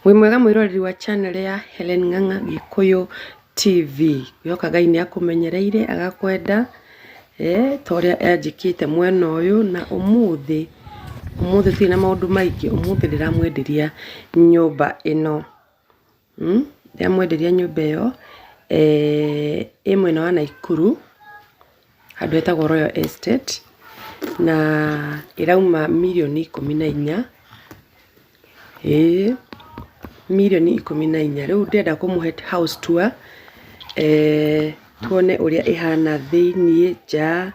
Wĩ mwega mwĩroreri wa channel ya Hellen Ng'ang'a Gĩkũyũ TV, ngwĩhoka Ngai nĩ akũmenyereire agakwenda ta ũrĩa anjĩkĩte mwena ũyũ, na ũmũthĩ tũtirĩ na maũndũ maingĩ, ũmũthĩ ndĩramwenderia nyũmba ĩno, ndĩramwenderia nyũmba ĩyo ĩ mwena wa Naikuru. handũ hetagwo Royal Estate, na ĩrauma mirioni ikũmi na inya, ĩĩ mirioni ikũmi na inya. Rĩu ndĩrenda kũmũhe house tour tuone ũrĩa ĩhana thĩiniĩ, nja,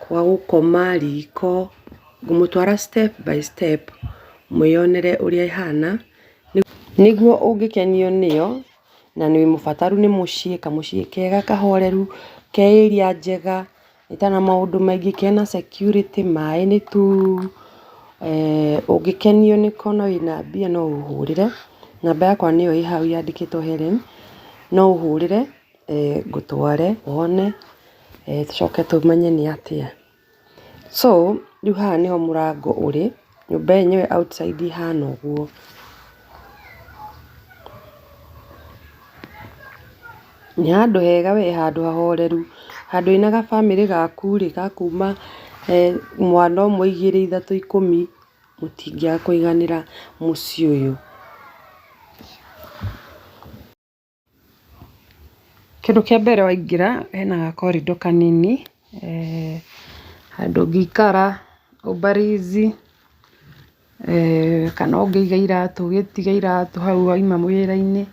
gwa gũkoma, riko, ngũmũtwara step by step mwĩyonere ũrĩa ĩhana nĩguo ũngĩkenio nĩyo. na wĩ mũbataru nĩ mũciĩ, kamũciĩ kega kahoreru, ke area njega, itana maũndũ maingĩ, kena security, maĩ nĩ tu, eeh ũngĩkenio nĩko na wĩna mbia no ũhũrĩre, namba yakwa nĩyo ĩ hau yandĩkĩtwo Hellen, no ũhũrĩre ngũtware wone, tũcoke tũmenye nĩ atĩa. So rĩu haha nĩho mũrango ũrĩ, nyũmba yenyewe outside ĩhana ũguo. Nĩ handũ hega wee, handũ hahoreru, handũ wĩna ga bamĩrĩ gaku rĩ, ga kuuma mwana ũmwe, igĩrĩ, ithatũ, ikũmi, mũtingĩaga kũiganĩra mũciĩ ũyũ. Kĩndũ kĩa mbere waingĩra hena ga corridor kanini, handũ ũngĩikara ũbarizi, kana ũngĩiga iratũ ũgĩtiga iratũ hau wauma wĩra-inĩ,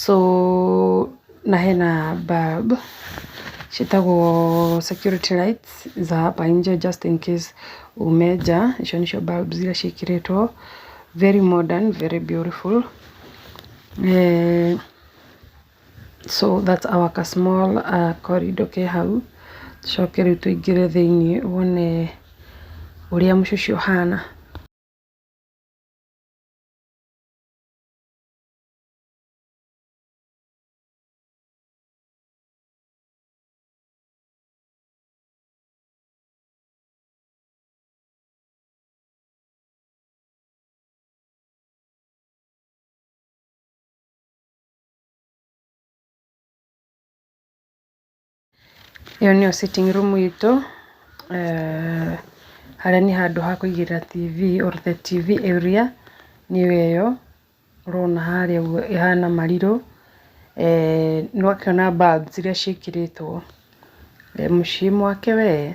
so na hena bulb ciĩtagwo security lights za hapa inje just in case ume nja, icio nĩcio bulb iria ciĩkĩrĩtwo, very modern, very beautiful. Eeh so that's our ka small corridor ke hau, tũcoke rĩu tũingĩre thĩiniĩ wone ũrĩa mũciĩ ũhana. Ĩyo nĩyo sitting room itũ, harĩa nĩ handũ ha kũigĩrĩra TV or the TV area nĩyo ĩyo ũrona harĩa ũguo ĩhana marirũ, nĩ ũrakĩona bulbs iria ciĩkĩrĩtwo, mũciĩ mwake wee,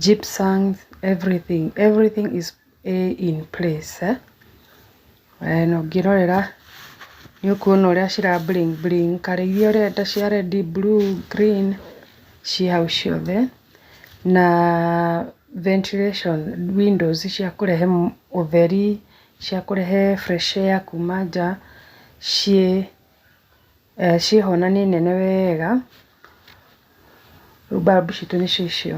gypsum, everything, everything is... ĩ in place. Na ũngĩrorera nĩ ũkuona ũrĩa cira bling bling, colour iria ũrenda cia red, blue, green ciĩ hau ciothe. Na ventilation, windows cia kũrehe ũtheri, cia kũrehe fresh air kuuma nja ciĩ ho na nĩ nene wega. Rĩu bulb citũ nĩcio icio.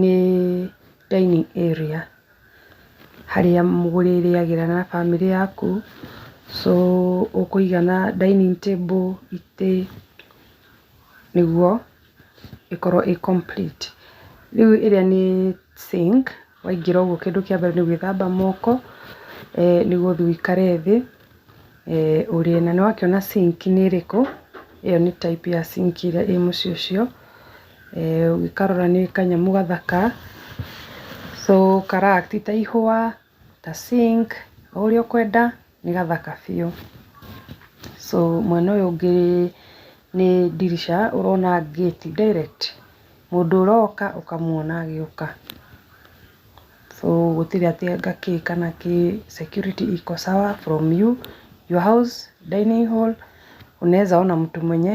Nĩ dining area harĩa mũrĩrĩagĩra na bamĩrĩ yaku, so ũkũiga na dining table, itĩ nĩguo ĩkorwo ĩ complete. Rĩu ĩrĩa nĩ sink, waingĩra ũguo kĩndũ kĩa mbere nĩ gwĩthamba moko, nĩ gũthiĩ wĩikare thĩ ũrĩe. Na nĩ wakĩona sink nĩ ĩrĩkũ, ĩyo nĩ type ya sink ĩrĩa ĩ mũciĩ ũcio. Eeh ũngĩkarora nĩ kanyamũ gathaka, so kara act ta ihũa, ta sink, o ũrĩa ũkwenda, nĩ gathaka biũ. So mwena ũyũ ũngĩ nĩ ndirica ũrona gate direct, mũndũ ũroka ũkamuona agĩũka. So gũtirĩ atĩ anga kĩ kana kĩ, security iko sawa from you, your house, dining hall, unaweza ona mtu mwenye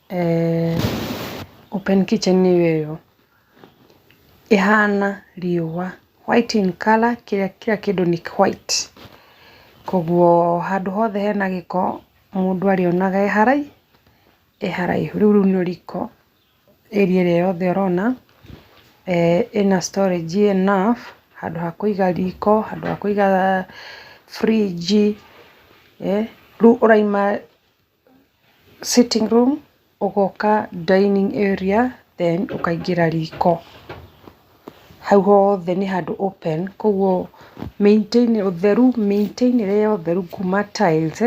Eeh open kitchen nĩyo ĩyo, ĩhana riũa, white in colour kĩrĩa kira kĩndũ nĩ white, kogwo handũ hothe hena gĩko mũndũ arĩonaga e haraihu, e haraihu, rĩu rĩu nĩrĩo riko, area ĩrĩa yothe ũrona, eeh ĩna storage enough handũ ha kũiga riko, handũ ha kũiga fridge, eeh rĩu ũraima... Sitting room ũgoka dinning area then ũkaingĩra riko. Hau hothe nĩ handũ open koguo ũtheru, mĩitĩre ya ũtheru kuma tiles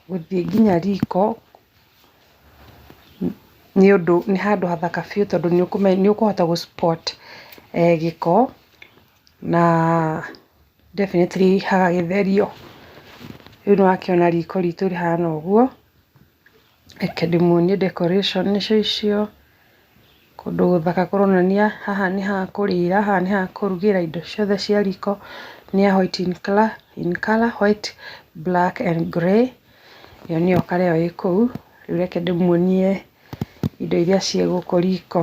gũthiĩ nginya riko nĩ ũndũ nĩ handũ hathaka biũ tondũ nĩ ũkũhota gũ spot gĩko. Na definitely hagagĩtherio, rĩu nĩ wakĩona riko ritũ rĩhana ũguo, reke ndĩmuonie decoration nĩcio icio, kũndũ gũthaka kũronania haha nĩ ha kũrĩra, haha nĩ ha kũrugĩra indo ciothe cia riko, nĩ ya white in colour, white, black and grey, ĩyo nĩyo colour ĩyo ĩ kũu, rĩu reke ndĩmuonie indo iria ciĩ gũkũ riko.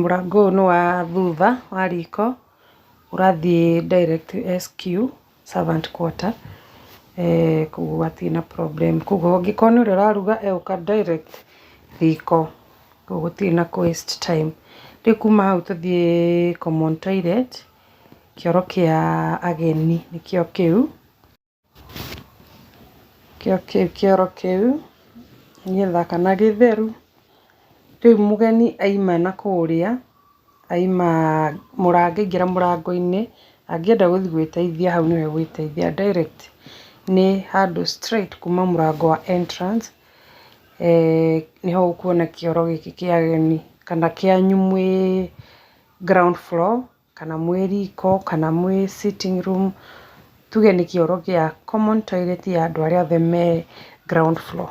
Mũrango ũyũ nĩ wa thutha wa riko ũrathiĩ direct SQ, servant quarter, koguo hatirĩ na problem. Koguo angĩkorwo nĩ ũrĩa ũraruga egũka direct riko, koguo gũtirĩ na kũ waste time. Rĩu kuma hau tũthiĩ common toilet, kĩoro kĩa ageni nĩkĩo kĩu. Kĩo kĩu kĩoro kĩu gĩthaka na gĩtheru, rĩu mũgeni aima na kũrĩa, aima mũrango angĩingĩra mũrango-inĩ, angĩenda gũthiĩ gwĩteithia hau nĩho egwĩteithia direct nĩ handũ straight kuma mũrango wa entrance nĩho ũkuona kĩoro gĩkĩ kĩa ageni kana kĩanyu mwĩ ground floor. kana mwĩ riko, kana mwĩ sitting room, tuge nĩ kĩoro gĩa common toilet ya andũ arĩa othe me ground floor.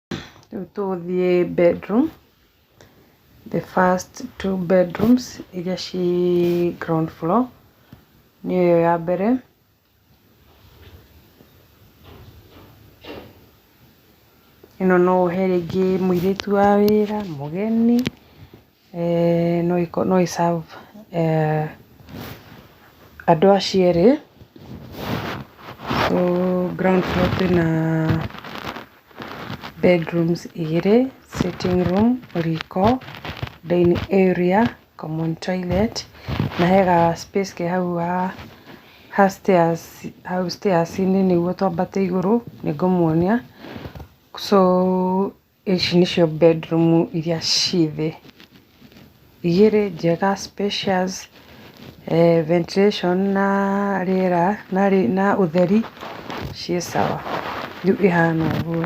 Rĩu tũgũthiĩ bedroom, the first two bedrooms iria ciĩ ground floor nĩyo ĩyo ya mbere. Ĩno no ũhe rĩngĩ mũirĩtu wa wĩra, mũgeni. No ĩ serve andũ acio erĩ, so ground floor kwĩ na bedrooms igĩrĩ, sitting room, riko, dining area, common toilet na he ga space ke hau ha stairs, hau stairs -inĩ nĩguo twambate igũrũ, nĩ ngũmuonia, so Ici nĩcio bedroom iria ciĩ thĩ, igĩrĩ njega spacious, ventilation na rĩera na ũtheri ciĩ sawa rĩu ihana ũguo.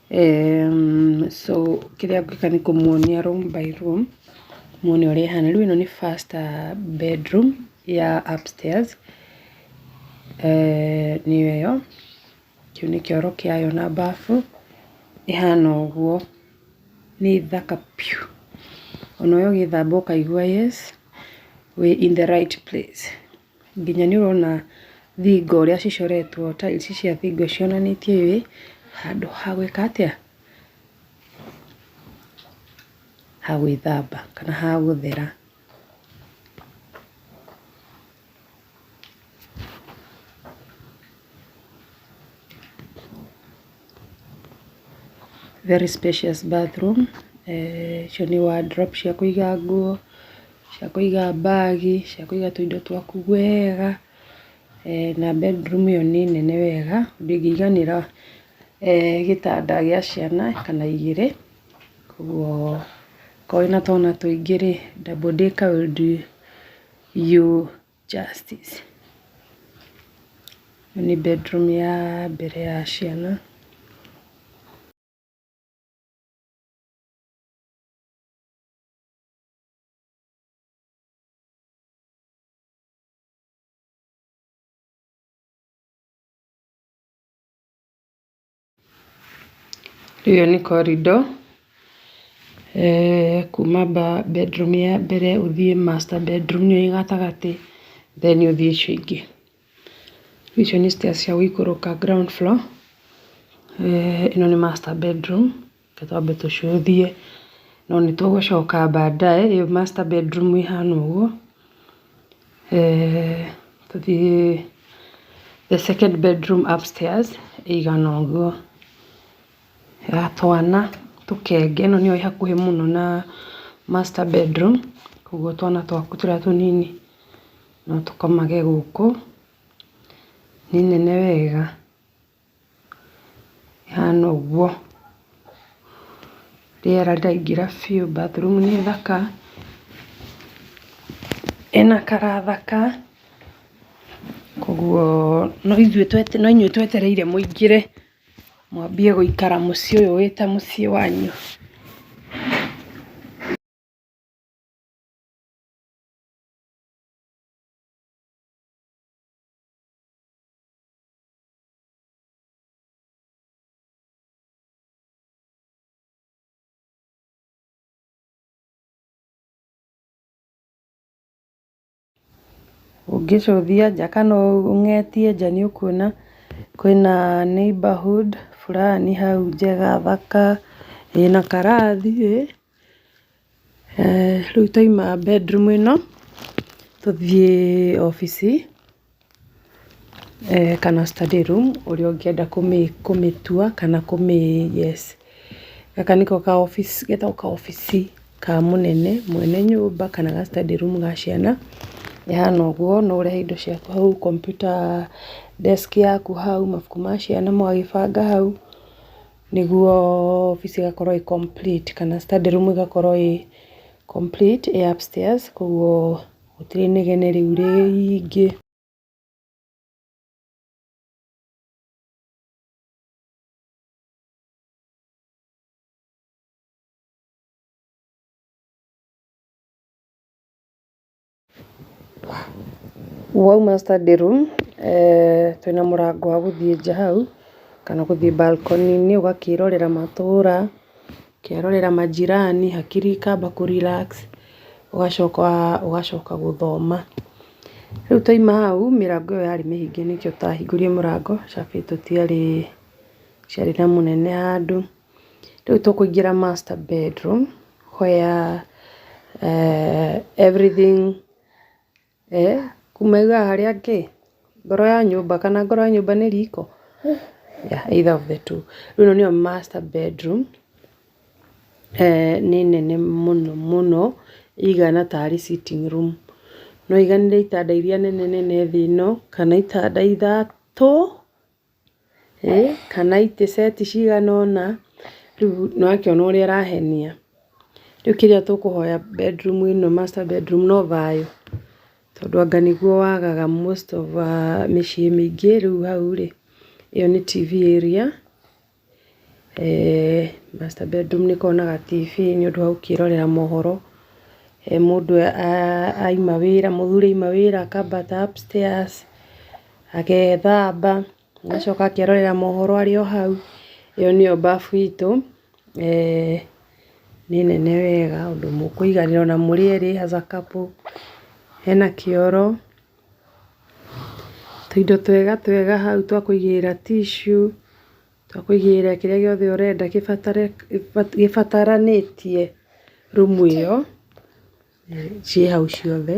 So kĩrĩa ngwĩka nĩ kũmuonia room by room, muone ũrĩa ĩhana. Rĩu ĩno nĩ first bedroom ya upstairs, nĩyo ĩyo, kĩu nĩ kĩoro kĩayo na bafu, ĩhana ũguo, nĩ thaka biũ. Ona we ũgĩthamba ũkaigua yes, wĩ in the right place. nginya nĩ ũrona thingo ũrĩa cicoretwo tiles cia thingo cionanĩtie wĩ handũ ha gwĩka atĩa? ha gwĩthamba kana ha gũthera. Very spacious bathroom, icio nĩ wardrobe cia kũiga nguo, cia kũiga bag, cia kũiga tũindo twaku wega, na bedroom ĩyo nĩ nene wega ũndũ ĩngĩiganĩra gĩtanda gĩa ciana kana igĩrĩ, koguo okorwo wĩna twana tũingĩ rĩ, double decker will do you. Justice. Ĩno nĩ bedroom ya mbere ya ciana. Ĩyo nĩ corridor eeh kuma bedroom ya mbere ũthiĩ master bedroom nĩyo ĩĩ gatagatĩ then ũthiĩ icio ingĩ. Icio nĩ stairs cia gũikũrũka ground floor eeh ĩno nĩ master bedroom. Reke twambe tũcũthie, no nĩ tũgũcoka baadaye, ĩyo master bedroom ĩhana ũguo, eeh tũthiĩ the second bedroom upstairs ĩigana ũguo, ya twana tũkenge, ĩno nĩyo ĩ hakuhĩ mũno na master bedroom, koguo twana twaku tũrĩa tũnini no tũkomage gũkũ, nĩ nene wega. Ĩhana ũguo. Rĩera rĩraingĩra biũ, bathroom nĩ thaka, ĩna color thaka, koguo no inyuĩ twetereire mũingĩre mwambie gũikara mũciĩ ũyũ wĩ ta mũciĩ wanyu. Ũngĩcũthia nja kana ũng'etie nja nĩ ũkuona kwĩna neighbourhood burani hau njega thaka, ĩna karathi ĩ. Rĩu twaima bedroom ĩno, tũthiĩ obici kana study room ũrĩa ũngĩenda kũmĩtua kana kũmĩ yes. Gaka nĩko ka obici, getagwo ka obici ka mũnene mwene nyũmba kana ga study room ga ciana. Ĩhana ũguo, no ũrehe indo ciaku hau, kompiuta desk yaku hau, mabuku ma ciana mũgagĩbanga hau. nĩguo obici ĩgakorwo ĩ complete kana study room ĩgakorwo ĩ complete ĩ upstairs koguo gũtirĩ inegene rĩu rĩingĩ. Wauma study room twĩna mũrango wa gũthiĩ nja hau kana gũthiĩ balcony -inĩ ũgakĩrorera matũra, ũkerorera manjirani hakiri ikamba kũ relax ũgacoka ũgacoka gũthoma. Rĩu twaima hau mĩrango ĩyo yarĩ mĩhinge nĩkĩo tũtahingũrire mũrango cabi tũtiarĩ, tũtiarĩ na mũnene handũ. Rĩu tũkũingĩra master bedroom where everything kuma rĩu haha harĩa kĩ ngoro ya nyũmba kana ngoro ya nyũmba nĩ riko? Either of the two. Rĩu ĩno nĩyo master bedroom nĩ nene mũno mũno ĩigana tarĩ sitting room. No ĩiganĩre itanda iria nene nene thĩ ĩno kana itanda ithatũ. kana itĩ ceti cigana ũna, rĩu nĩ ũrakĩona ũrĩa arahenia, rĩu kĩrĩa tũkũhoya bedroom ĩno master bedroom no thayũ, tondũ anga nĩguo wagaga most of mĩciĩ mĩingĩ, rĩu hau rĩ, ĩyo nĩ TV area, eeh master bedroom nĩ ĩkoragwo na ga TV nĩ ũndũ wa gũkĩrorera mohoro, mũndũ aima wĩra, mũthuri aima wĩra akamba upstairs agethamba, agacoka akerorera mohoro arĩ o hau, ĩyo nĩyo mbabu itũ, eeh nĩ nene wega ũndũ mũkũiganĩra ona mũrĩ erĩ as a couple, hena kĩoro, tũindo twega twega hau twa kũigĩrĩra tissue, twa kũigĩrĩra kĩrĩa gĩothe ũrenda gĩbatare gĩbataranĩtie rumu ĩyo, ciĩ hau ciothe.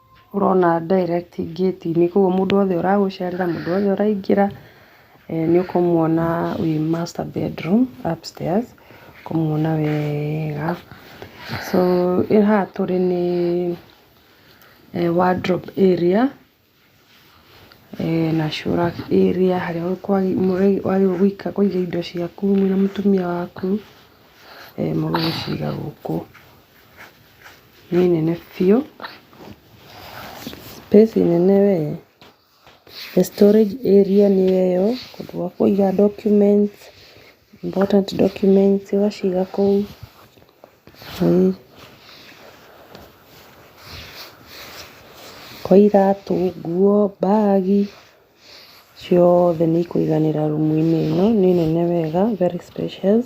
ũrona direct gate -inĩ koguo mũndũ wothe ũragũcerera, mũndũ wothe ũraingĩra nĩ ũkũmwona wĩ master bedroom upstairs ũkũmwona wega. So haha tũrĩ nĩ wardrobe area na shower area harĩa wagĩrĩirwo kũiga indo ciaku wĩ na mũtumia waku, mũgagĩciga gũkũ. nĩ nene biũ, space nene we, the storage area nĩ ĩyo, handũ ha kũiga documents, important documents ũgaciga kũu, kwa iratũ, nguo, bag, ciothe nĩ ikũiganĩra rumu-inĩ ĩno, nĩ nene wega, very spacious.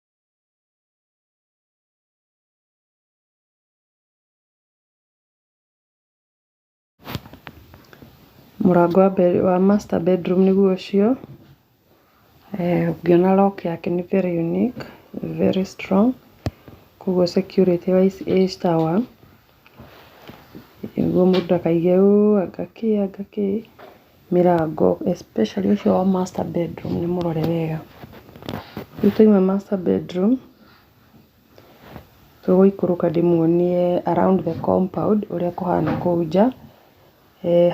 Mũrango wa mbere wa master bedroom nĩguo ũcio, eh ũngĩona lock yake nĩ very unique, very strong, koguo security wise ĩ sawa, nĩguo mũndũ ndakaige ũũ anga kĩ anga kĩ. Mĩrango especially ũcio wa master bedroom nĩ mũrore wega. Rĩu twaima master bedroom, tũgũikũrũka ndĩmuonie around the compound ũrĩa kũhana kũu nja,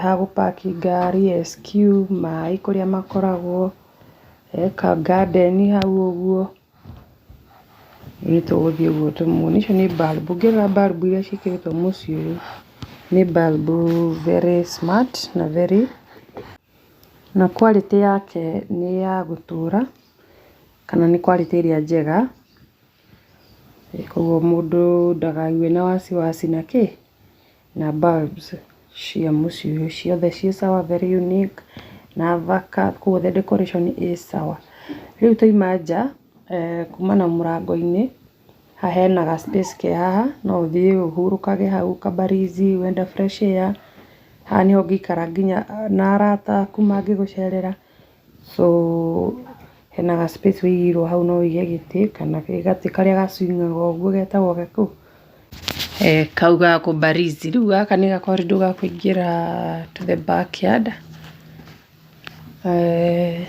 ha gũ park ngari, SQ, maĩ kũrĩa makoragwo, ka garden hau ũguo. Nĩ tũgũthiĩ ũguo tũmwone. Icio nĩ bulb. Ũngĩrora bulb iria ciĩkĩrĩtwo mũciĩ ũyũ, nĩ bulb very smart na very na quality yake nĩ ya gũtũra, kana nĩ quality ĩrĩa njega. Koguo mũndũ ndakague na wasiwasi na kĩ? Na bulbs cia mũciĩ ũyũ ciothe ciĩ sawa very unique na thaka koguo the decoration ĩ sawa. Rĩu twaima nja kuma na mũrango-inĩ, haha hena ga space ke haha no ũthiĩ ũhurũkage hau ka mbarizi wenda fresh air, haha nĩho ũngĩikara nginya na arata aku mangĩgũcerera. So hena ga space wĩigĩirwo hau no wĩige gĩtĩ kana gatĩ karĩa ga swing aga ũguo getagwo gakũ? Eeh kau ga kũmbarizi. Rĩu gaka nĩ ga corridor ga kũingĩra to the back yard. Eeh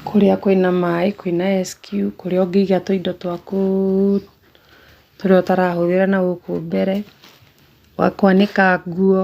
kũrĩa kwĩna maĩ kwĩna SQ kũrĩa ũngĩiga tũindo twaku tũrĩa ũtarahũthĩra nagũkũ mbere, gwa kwanĩka nguo.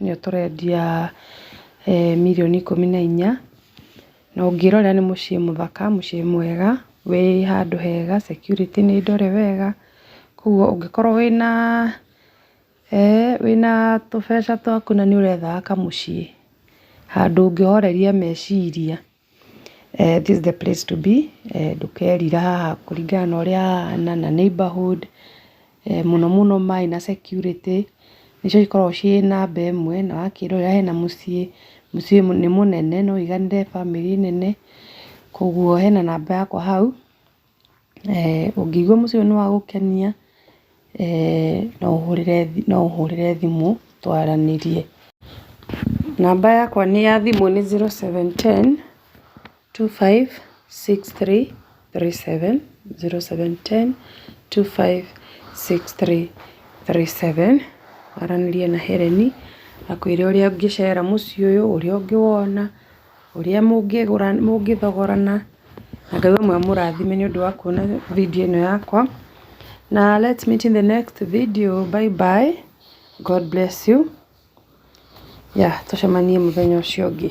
nĩyo tũrendia mirioni ikũmi na inya, na ũngĩrora nĩ mũciĩ mũthaka, mũciĩ mwega, wĩ handũ hega, security nĩ ndore wega, koguo ũngĩkorwo wĩna wĩna tũbeca twaku na nĩ ũrethaga kamũciĩ handũ ũngĩhoreria meciria. This is the place to be ndũkerira haha kũringana na ũrĩa hahana na neighbourhood, mũno mũno maĩ na security nĩcio cikoragwo ciĩ namba ĩmwe na wakĩrora hena mũciĩ, mũciĩ nĩ mũnene no ũiganĩre famĩlĩ nene, koguo hena namba yakwa hau. Ũngĩigua mũciĩ ũyũ nĩ wa gũkenia, no ũhũrĩre, no ũhũrĩre thimũ twaranĩrie. Namba yakwa ya thimũ nĩ zero seven ten, two five six three, three seven, zero seven ten, two five six three, three seven. Waranĩrie na Hereni, akũĩre ũrĩa ũngĩcera mũciĩ ũyũ, ũrĩa ũngĩwona. ũrĩa mũngĩthogorana na Ngai ũmwe amũrathime nĩ ũndũ wa kuona video ĩno yakwa na let's meet in the next video bye bye God bless you yeah tũcemanie mũthenya ũcio ũngĩ.